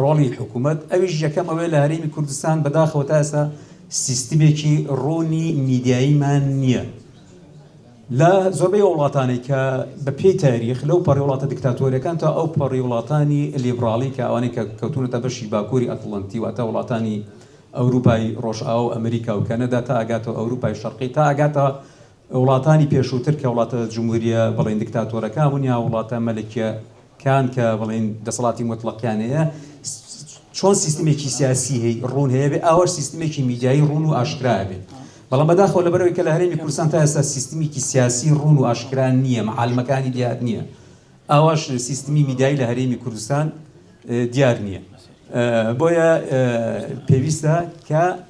ڕۆڵی حکومەت ئەویش یەکەم ئەوەیە لە هەرێمی کوردستان بەداخەوە تا ئێستا سیستمێکی ڕوونی میدیاییمان نییە لە زۆربەی وڵاتانی کە بە پێی تاریخ لەو پەڕی وڵاتە دکتاتۆریەکان تا ئەو پەڕی وڵاتانی لیبراڵی کە ئەوانەی کە کەوتونەتە بەشی باکووری ئەتلنتی واتە وڵاتانی ئەوروپای ڕۆژئاو ئەمریکا و کەنەدا تا ئەگاتەوە ئەوروپای شەرقی تا ئەگاتەوە وڵاتانی پێشووتر کە وڵاتە جمهورییە بڵێین دکتاتۆرەکان بوون یا وڵاتە مەلەکیە کان کە بڵێین دەسەڵاتی مۆتڵەقیان هەیە چۆن سیستمێکی سیاسی هەی ڕوون هەیە بێ ئاوەش سیستمێکی میدیایی ڕوون و ئاشکرایە بێ بەڵام بەداخەوە لەبەرەوەی کە لە هەرێمی کوردستان تا ئێستا سیستمیکی سیاسی ڕوون و ئاشکران نییە معالمەکانی دیار نییە ئاواش سیستمی میدایی لە هەرێمی کوردستان دیار نییە بۆیە پێویستە کە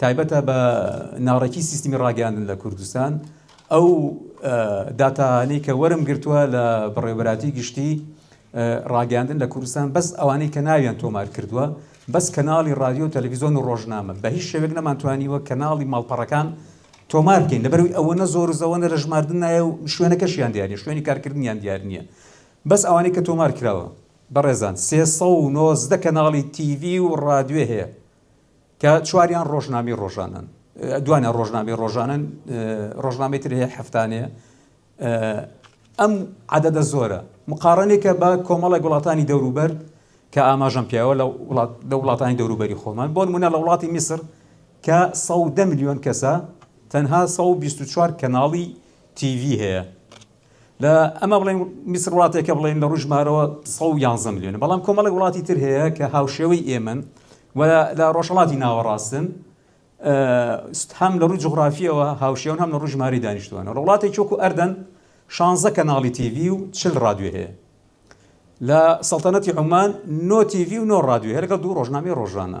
تایبەتە بە ناڕێکی سیستمی ڕاگەیاندن لە کوردستان، ئەو داتایانەی کە وەرم گرتووە لە بەڕێوەبەرایەتی گشتی ڕاگەیاندن لە کوردستان بەس ئەوانەی کە ناویان تۆمار کردووە بەس کەناڵی ڕادیۆ و تەلەڤیزۆن و ڕۆژنامە بە هیچ شێوەیەک نەمانتوانیوە کەناڵی ماڵپەڕەکان تۆمار بکەین لەبەروی ئەوەنە زۆر و زەوەنە لە ژماردن نایە و شوێنەکەشیان دیار نیە شوێنی کارکردنیان دیار نییە بەس ئەوانەی کە تۆمار کراوە بەڕێزان سێ سەد و نۆزدە کەناڵی تیڤی و ڕادیۆ هەیە کە چواریان ڕۆژنامەی ڕۆژانەن، دوانیان ڕۆژنامەی ڕۆژانەن، ڕۆژنامەی تر هەیە هەفتانەیە. ئەم عەدەدە زۆرە مقاڕنێکە بە کۆمەڵێک وڵاتانی دەوروبەر کە ئاماژەم پیاوە لە وڵات لە وڵاتانی دەوروبەری خۆمان بۆ نمونە لە وڵاتی میسر کە ١١٠ ملیۆن کەسە تەنها ١٢٤ کەناڵی تیڤی هەیە لە ئەمە بڵێن میسر وڵاتێکە بڵێن لە ڕژ مارەوە 111 میلیۆن بەڵام کۆمەڵی وڵاتی تر هەیە کە هاوشێوەی ئێمن و لە ڕۆژەڵاتی ناوەڕاستن هەم لە ڕووی جغرافیەوە هاوشێون هەم لە ڕژماری دانیشتوانە لە وڵاتی چۆکو ئەردەن شانزە کەناڵی تیV و چل ڕادوێ هەیە لە سەڵتەنەتی عمان نۆ تیV و نۆ ڕادوێ هەرگە دوو ڕۆژنامی ڕۆژانە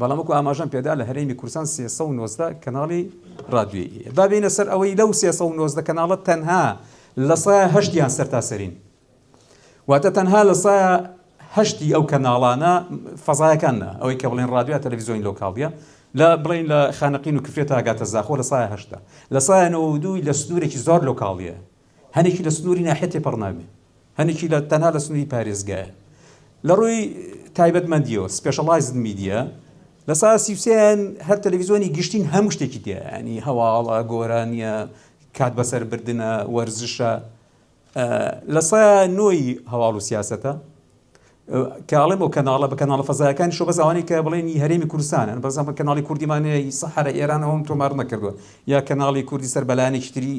بەڵام وەکو ئاماژەم پێدا لە هەرێمی کوردستان سێ سەد و نۆزدە کەناڵی ڕادیۆیی هەیە، با بێینە سەر ئەوەی لەو سێ سەد و نۆزدە کەناڵە تەنها لە سایە هەشتیان سەرتاسەرین، واتە تەنها لە سایە هەشتی ئەو کەناڵانە فەزایەکان نا، ئەوەی کە بڵێن ڕادیۆ یا تەلەفیزیۆنی لۆکاڵیە لە بڵێین لە خانەقین و کفرێ تا گاتە زاخۆ لە سایە هەشتە، لە سایە نەوەدووی لە سنوورێکی زۆر لۆکاڵیە، هەنێکی لە سنووری ناحیە تێپەڕناوین، هەنێکی لە تەنها لە سنووری پارێزگایە. لە ڕووی تایبەتمەندییەوە سپێشەڵایزد میدیا لە سەعات سی و سێ یان هەر تەلەڤیزیۆنی گشتین هەموو شتێکی تێیە یانی هەواڵە، گۆرانییە، کات بەسەر بردنە، وەرزشە. لە سەیا نۆی هەواڵ و سیاسەتە. کە ئەڵێم ئەو کەناڵە بە کەناڵە فەزایەکانیشەوە بەس ئەوانەی کە بڵێن ی هەرێمی کوردستانن بەس زەحمەت کەناڵی کوردیمان هەیە ی سەحەرە ئێران ئەوەم تۆمار نەکردووە یا کەناڵی کوردی سەر بە لایەنێکی تری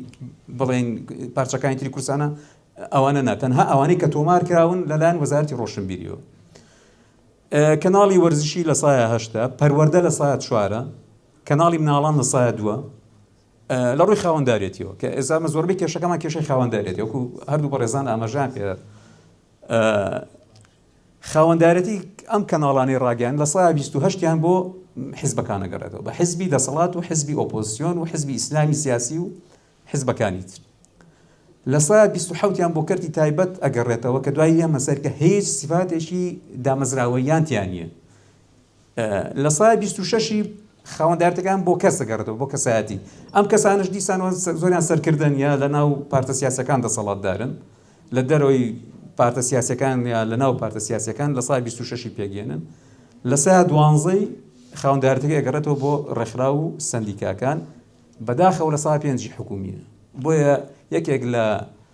بڵێن پارچەکانی تری کوردستانە ئەوانە نا تەنها ئەوانەی کە تۆمار کراون لەلایەن وەزارەتی ڕۆشنبیریەوە کەناڵی وەرزشی لە سایە هەشتا پەروەەردە لە سایە چوارە کەناڵی مناڵان لە سایە دووە لە ڕووی خاوەنددارێتیەوە کە ئێزامە زۆربەی کێشەکەمان کێشەی خاوەنددارێتی وەکو هەردوو بەڕێزان ئاماژان پێ خاوەندارێتی ئەم کەناڵانەی ڕاگەیاندن لە سەدا بیست و هەشت یان بۆ حزبەکان دەگەڕێتەوە، بە حزبی دەسەڵات و حزبی ئۆپۆزسیۆن و حزبی ئیسلامی سیاسی و حزبەکانی تر. لە سەدا بیست و حەوت یان بۆ کەرتی تایبەت ئەگەڕێتەوە کە دوای ئێمە سەرکە هیچ سیفاتێکی دامەزراوەییان تیا نییە. لە سایە بیست و شەشی خاوەندارێتیەکان بۆ کەس دەگەڕێتەوە بۆ کەسایەتی، ئەم کەسانەش دیسان و زۆریان سەرکردەن یا لە ناو پارتە سیاسیەکان دەسەڵاتدارن، لە دەرەوەی پارتە سیاسیەکان یا لە ناو پارتە سیاسیەکان، لە سایە بیست و شەشی پێکدێنن، لە سایە دوانزەی خاوەندارێتیەکە ئەگەڕێتەوە بۆ ڕێکخراو و سەندیکاکان، بەداخەوە لە سایە پێنجی حکومیە، بۆیە یەکێک لە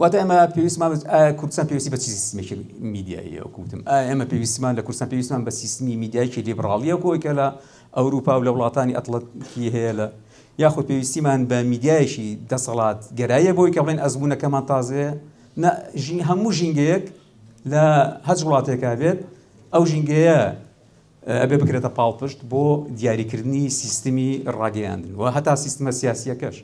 واتە ئێمە پێویستمان بە- ئایا کوردستان پێویستی بە چی سیستمێکی میدیاییە؟ وەکو وتم، ئایا ئێمە پێویستمان لە کوردستان پێویستمان بە سیستمی میدیایەکی لیبڕاڵیە وەکو ئەوەی کە لە ئەوروپا و لە وڵاتانی ئەتڵەنتیکی هەیە لە یاخود پێویستیمان بە میدیایەکی دەسەڵاتگەراییە بۆ ئەوەی کە بڵێین ئەزموونەکەمان تازەیە؟ نا، ژین- هەموو ژینگەیەک لە هەچ وڵاتێکا بێت، ئەو ژینگەیە، ئەبێ بکرێتە پاڵپشت بۆ دیاریکردنی سیستمی ڕاگەیاندن و هەتا سیستمە سیاسیەکەش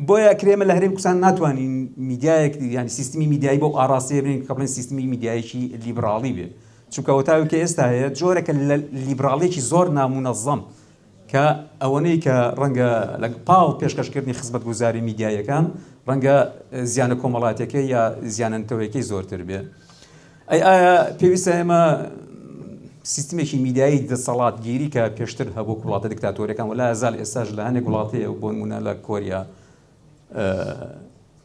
بۆیە کرێمە لە هەرێم کوردستان ناتوانین میدیایەک یعنی سیستمی میدیایی بۆ ئاراستێ بین کە بڵێن سیستمی میدیایکی لیبراڵی بێ چونکەوەتاوی کە ئێستا هەیە جۆرەکە لە لیبراڵێکی زۆر نامونەزەم کە ئەوەنەی کە ڕەنگە لە پاڵ پێشکەشکردنی خزمەتگوزاری میدیاییەکان ڕەنگە زیانە کۆمەڵاتیەکەی یا زیانە نەتەوەیەکەی زۆرتر بێ ئەی ئایا پێویستە ئێمە سیستمێکی میدیایی دەسەڵاتگیری کە پێشتر هەبوو وڵاتە دکتاتۆرەکان ولا زال ئێستاش لە هەنێک وڵاتی بۆ نمونە لە کۆریا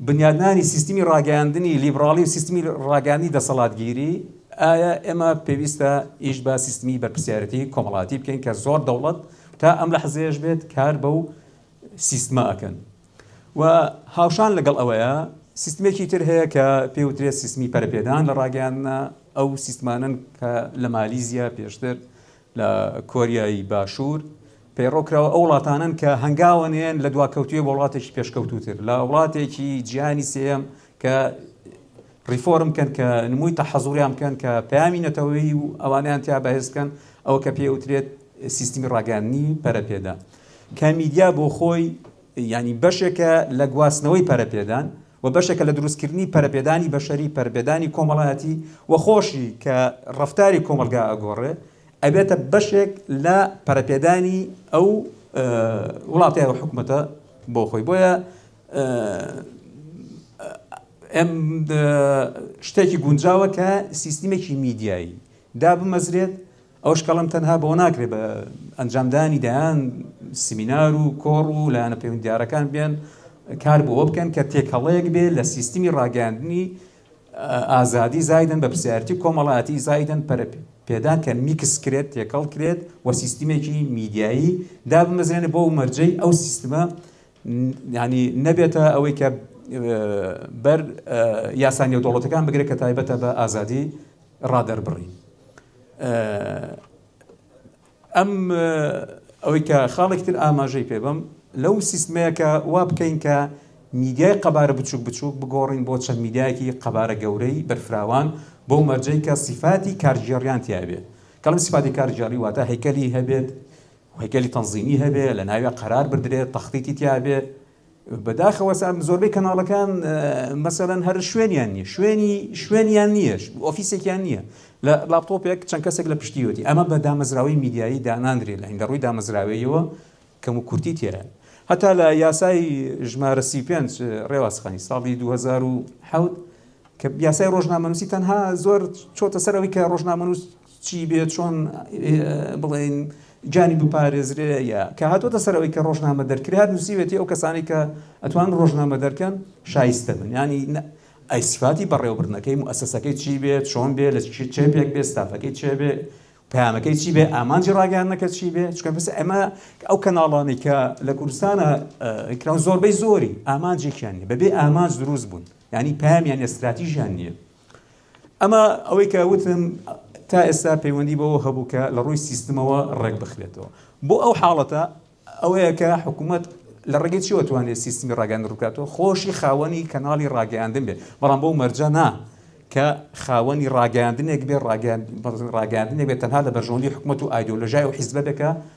بنیادنانی سیستمی ڕاگەیاندنی لیبڕاڵی و سیستمی ڕاگەیاندنی دەسەڵاتگیری، ئایا ئێمە پێویستە ئیش بە سیستمی بەرپرسیارێتی کۆمەڵایەتی بکەین کە زۆر دەوڵەت تا ئەم لەحزەیەش بێت کار بەو سیستمە ئەکەن و هاوشان لەگەڵ ئەوەیا سیستمێکی تر هەیە کە پێی وترێت سیستمی پەرەپێدان لە ڕاگەیاندنە ئەو سیستمانەن کە لە مالیزیا پێشتر لە کۆریای باشوور پەیڕەوکراوە ئەو وڵاتانەن کە هەنگاوە نێن لە دواکەوتووی بۆ وڵاتێکی پێشکەوتووتر لە وڵاتێکی جیهانی سێیەم کە ڕیفۆرم کەن کە نمووی تەحەزوریان بکەن کە پەیامی نەتەوەی و ئەوانیان تیا بەهێز بکەن ئەوە کە پێوترێت سیستمی ڕاگەیاندنی پەرەپێدا کە میدیا بۆ خۆی ینی بەشێکە لە گواستنەوەی پەرەپێدان و بەشێکە لە دروستکردنی پەرەپێدانی بەشەری، پەرەپێدانی کۆمەڵایەتی و خۆشی کە ڕەفتاری کۆمەڵگا ئەگۆڕێ ئەبێتە بەشێک لە پەرەپێدانی ئەو وڵاتە و حکومەتە بۆ خۆی بۆیە ئەم شتێکی گونجاوە کە سیستمێکی میدیایی دابمەزرێت ئەو شکڵەم تەنها بەوە ناکرێت بە ئەنجامدانی دەیان سمینار و کۆڕ و لایەنە پەیوەندیدارەکان بێن کار بۆ بکەن کە تێکەڵەیەک بێ لە سیستمی ڕاگەاندنی ئازادی زایدن بە پرسیارتی کۆمەڵایەتی زایدن پەرە پێدان کە میکس کرێت تێکەڵ کرێت و سیستمێکی میدیایی دابمەزرێنێ بۆ مەرجەی ئەو سیستمە یانی نەبێتە ئەوەی کە بەر یاسا نێودەوڵەتەکان بگرێت کە تایبەتە بە ئازادی ڕادەربڕین ئەم ئەوەی کە خاڵێکتر ئاماژەی پێ بم لەو سیستمەیەکە وا بکەین کە میدیای قەبارە بچوک بچوک بگۆڕین بۆ چەند میدیایەکی قەبارە گەورەی بەرفراوان بۆ مەرجەی کە سیفاتی کارگێڕیان تیاێت کەڵم سیفاتی کارگێڕی واتە هەیکەلی هەبێت هەیکەلی تەنزیمی هەبێ لەناویا قەرار بردرێ تەختیتی تیا بێ بەداخەوە سان زۆربەی کەناڵەکان مەسەلەن هەر شوێنیان نیە شوێنی شوێنیان نیەش ئۆفیسێکیان نییە لە لاپتۆپێک چەند کەسێک لە پشتیوەتی ئەمە بە دامەزراوەی میدیایی داناندرێت لە هەندە ڕووی دامەزراوەیەوە کەم و کورتی تێ هەتا لە یاسای ژمارە سی پێنج ڕێوازخانی ساڵی 2010 کە یاسای ڕۆژنامەنووسی تەنها زۆر چۆتە سەرەوەی کە ڕۆژنامەنووس چی بێ چۆن بڵێین گیانی بپارێزرێ یا کە هاتۆتە سەر ئەوەی کە ڕۆژنامە دەرکرێ هەر نووسیوێتی ئەو کەسانی کە ئەتوان ڕۆژنامە دەرکەن شایستە بن ینی ئەی سفاتی بەڕێوەبردنەکەی موسسەکەی چی بێت چۆن بێ لە چێ پێک بێ ستافەکەی چێ بێ پامەکەی چی بێ ئامانجی ڕاگەانەکە چی بێ چکە پس ئەمە ئەو کەناڵانی کە لە کوردستانە کران زۆربەی زۆری ئامانجێکیان نیە بەبێ ئامانج دروست بوون ینی پامیان ئەستراتیژیان نییە ئەمە ئەوەی کە وتم تا ئێستا پەیوەندی بەوە هەبوو کە لە ڕووی سیستمەوە ڕێک بخرێتەوە بۆ ئەو حاڵەتە ئەوەیە کە حکوومەت لە ڕێگەی چیوە توانێت سیستمی ڕاگەن ڕووکاتەوە خۆشی خاوەنی کەناڵی ڕاگەیاندن بێت بەڵام بۆ مەرجە نا کە خاوەنی ڕاگەاندنێک بێ ڕاگەاندنێک بێت تەنها لە بەرژەوەندی حکوومەت و ئایدۆلژای و حیزبەتەکە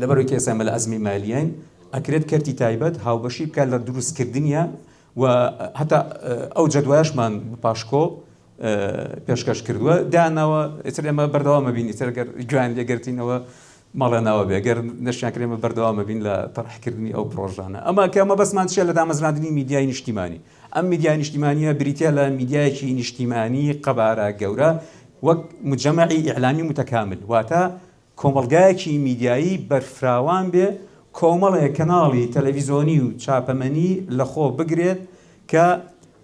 لەبەر ئەوەی کە ئێستا ئێمە لە ئەزمی مالیین، ئەکرێت کەرتی تایبەت هاوبەشی بکات لە دروست کردنیان و هەتا ئەو جەدوایەشمان پاشکۆڵ پێشکەش کردووە داناوە ئیتر ئێمە بەردەوام ئەبین ئیتر گەر گوێیان لێ گرتینەوە ماڵیان ئاوا بێ گەر نەشیان کرێ ئێمە بەردەوام ئەبین لە تەڕح کردنی ئەو پڕۆژانە ئەمە کە مەبەستمان چییە لە دامەزراندنی میدیای نیشتیمانی ئەم میدیای نیشتیمانییە بریتییە لە میدیایەکی نیشتیمانی قەبارە گەورە وەک مجەمەعی ئیعلامی متەکامل واتە کۆمەڵگایەکی میدیایی بەرفراوان بێ کۆمەڵێ کەناڵی تەلەڤیزۆنی و چاپەمەنی لە خۆ بگرێت کە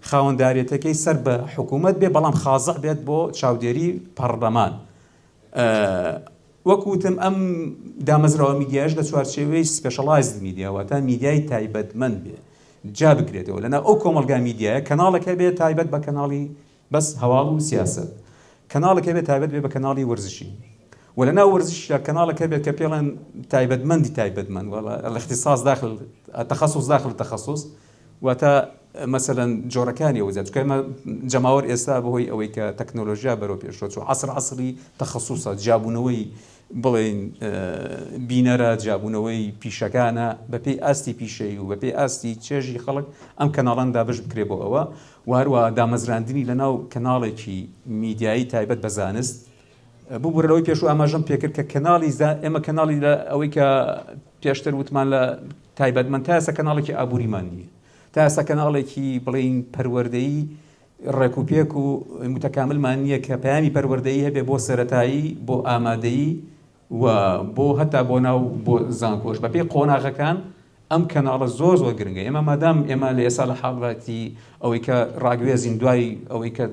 خاوەنداریەتەکەی سەر بە حکوومەت بێ بەڵام خازع بێت بۆ چاودێری پەڕلەمان وەک وتم ئەم دامەزراوە میدیایش لە چوارچێوەی سپێشەڵایزد میدیا واتە میدیای تایبەتمەند بێ جا بگرێتەوە لەنا ئەو کۆمەڵگا میدیایە کەناڵەکە بێ تایبەت بە کەناڵی بەس هەواڵ و سیاسەت. کەناڵێک هەبێت تایبەت بێت بە کەناڵی وەرزشی و لە ناو وەرزشیشدا کەناڵێک هەبێت کە پێڵێن تایبەتمەندی تایبەتمەند وە الاختصاص داخل التخصص داخل التخصص واتە مەسەلەن جۆرەکانی ئەو جا چونکە ئێمە جەماوەر ئێستا بە هۆی ئەوەی کە تەکنۆلۆژیا بەرەو پێشەوە چوو عەسر عەسری تخصصە جیابوونەوەی بڵێین بینەرە جیابوونەوەی پیشەکانە بەپێی ئاستی پیشەیی و بەپێی ئاستی چێژی خەڵک ئەم کەناڵان دابەش بکرێ بۆ ئەوە و هەروەها دامەزراندنی لەناو کەناڵێکی میدیایی تایبەت بە زانست ببورە لەوەی پێشوو ئاماژەم پێکرد کە کەناڵی زا ئێمە کەناڵی لە ئەوەی کە پێشتر وتمان لە تایبەتمەند تا ئێستا کەناڵێکی ئابووریمان نییە تا ئێستا کەناڵێکی بڵین پەروەردەیی ڕێکوپێک و متەکاملمان نییە کە پەیامی پەروەردەیی هەبێ بۆ سەتایی بۆ ئامادەیی و بۆ هەتا بۆ ناو بۆ زانکۆش بەپێی قۆناغەکان ئەم کەناڵە زۆر زۆر گرنگە ئێمە مادام ئێمە لە ئێسا لە حاڵەتی ئەوەی کە ڕاگوێزین دوای ئەوەی کە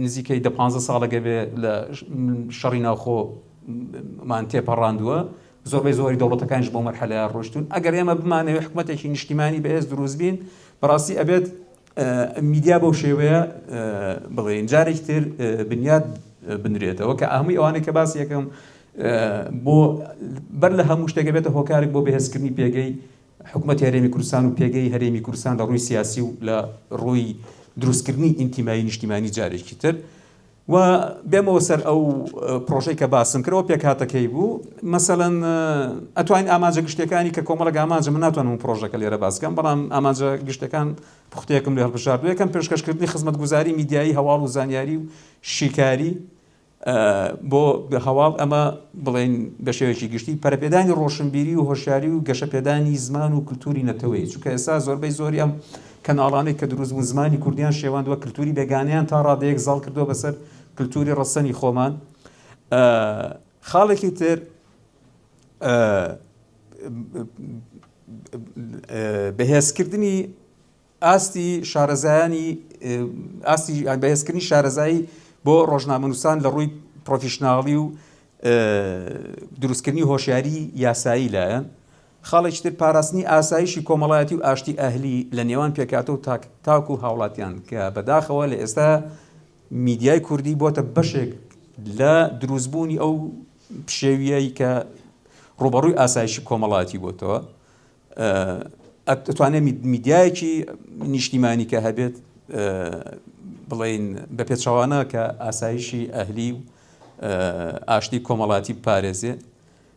نزیکەی دە پانزە ساڵەگە بێ لە شەڕی ناوخۆ مان تێپەڕاندووە زۆربەی زۆری دەوڵەتەکانش بۆ مەرحەلە ڕۆشتون ئەگەر ئێمە بمانەوە حکوومەتێکی نیشتیمانی بەهێز دروست بین بەڕاستی ئەبێت میدیا بەو شێوەیە بڵێین جارێکی تر بنیات بنرێتەوە کە ئەهەمووی ئەوانەی کە باسی یەکەم بۆ بەر لە هەموو شتێکە بێتە هۆکارێک بۆ بەهێزکردنی پێگەی حکوومەت هەرێمی کوردستان و پێگەی هەرێمی کوردستان لە ڕووی سیاسی و لە ڕووی دروستکردنی ئینتیمایی نیشتیمانی جارێکی تر و بێمەوە سەر ئەو پرۆژەی کە باسم کرد ئەوە پێکهاتەکەی بوو مەسەلەن ئەتوانین ئامانجە گشتەکانی کە کۆمەڵەک ئامانجە من ناتوانم و پرۆژەکە لێرە باسکەم بەڵام ئامانجە گشتەکان پختەیەکم لێ هەڵبژاردو یەکەم پێشکەشکردنی خزمەتگوزاری میدیایی هەواڵ و زانیاری و شیکاری بۆ هەواڵ ئەمە بڵێن بە شێوەیەکی گشتی پەرەپێدانی ڕۆشنبیری و هۆشیاری و گەشەپێدانی زمان و کللتوری نەتەوەی چونکە ئێستا زۆربەی زۆری ئەم کەناڵانێک کە دروست بوون زمانی کوردیان شێواندوە کلتوری بێگانەیان تا ڕادەیەک زاڵ کردوە بەسەر کلتوری ڕەسەنی خۆمان خاڵێکی تر بەهێزکردنی ئاستی شارەزایانی ئاستی بەهێزکردنی شارەزایی بۆ ڕۆژنامەنووسان لە ڕووی پرۆفیشنناڵی و دروستکردنی هۆشیاری یاسایی لایەن خاڵێکی تر پاراستنی ئاسایشی کۆمەڵایەتی و ئاشتی ئەهلی لە نێوان پێکهاتە و تاک تاک و هاوڵاتیان کە بە داخەوە لە ئێستا میدیای کوردی بۆتە بەشێک لە دروست بوونی ئەو پشێویەی کە ڕوبەڕووی ئاسایشی کۆمەڵایەتی بۆتەوە ئەتوانێت میدیایەکی نیشتیمانی کە هەبێت بڵین بە پێچوانە کە ئاسایشی ئەهلی و ئاشتی کۆمەڵاتی پارێزێ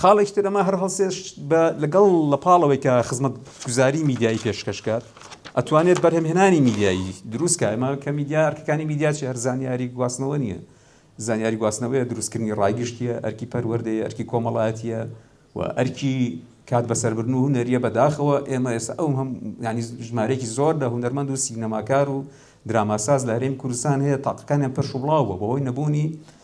خاڵێکی تر ئەمە هەر هەڵسێشت بە لەگەڵ لە پاڵەوەی کە خزمەتگوزاری میدیایی پێشکەشکات ئەتوانێت بەرهەمهێنانی میدیایی دروستکە ئەمە کە میدیا ئەرکەکانی میدیا چی هەر زانیاری گواستنەوە نییە زانیاری گواستنەوەیە دروستکردنی ڕایگشتیە ئەرکی پەروەردەیە ئەرکی کۆمەڵاتیە و ئەرکی کات بەسەربرن و هوەریە بەداخەوە ئێمە ئێستا ئەو هەم ینی ژمارێکی زۆر لە هوەرمەند و سینەماکار و دراماساز لە هەرێم کوردستان هەیە تاقەکانیان پەرش و بڵاوە بەوەی نەبوونی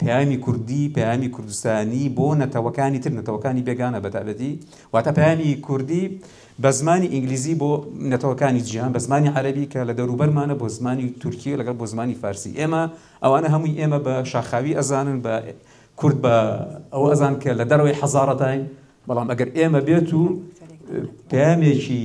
پەیامی کوردی، پەیامی کوردستانی بۆ نەتەوەکانی تر، نەتەوەکانی بێگانە بە تایبەتی، واتە پەیامی کوردی بە زمانی ئینگلیزی بۆ نەتەوەکانی جیهان، بە زمانی عەرەبی کە لە دەوروبەرمانە، بۆ زمانی تورکی لەگەڵ بۆ زمانی فارسی ئێمە، ئەوانە هەمووی ئێمە بە شاخاوی ئەزانن، بە کورد بە ئەوە ئەزانن کە لە دەرەوەی حەزارەتاین، بەڵام ئەگەر ئێمە بێت و پەیامێکی.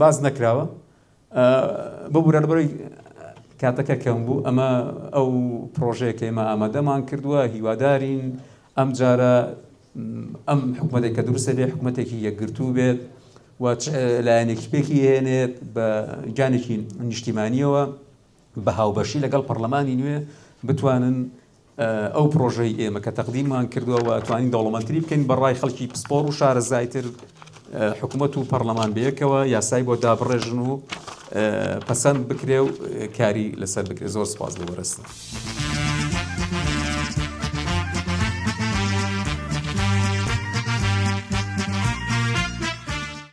باس نەکراوە ببورە لەبەرەی کاتەکە کەم بوو ئەمە ئەو پرۆژەیە کە ئێمە ئامادەمان کردووە هیوادارین ئەم جارە ئەم حکوومەتێک کە دروستە بێ حکوومەتێکی یەکگرتوو بێت و لایەنێکی پێکی هێنێت بە گیانێکی نیشتیمانیەوە بە هاوبەشی لەگەڵ پەرلەمانی نوێ بتوانن ئەو پڕۆژەی ئێمە کە تەقدیممان کردووە و ئەتوانین دەوڵەمەندتری بکەین بە ڕای خەڵکی پسپۆڕ و شارەزایتر، حکومەت و پەڕلەمان بەیەکەوە یاسای بۆ دابڕێژن و پەسەند بکرێ و کاری لەسەر بکرێ. زۆر سوپاس بۆ بەرێزتان.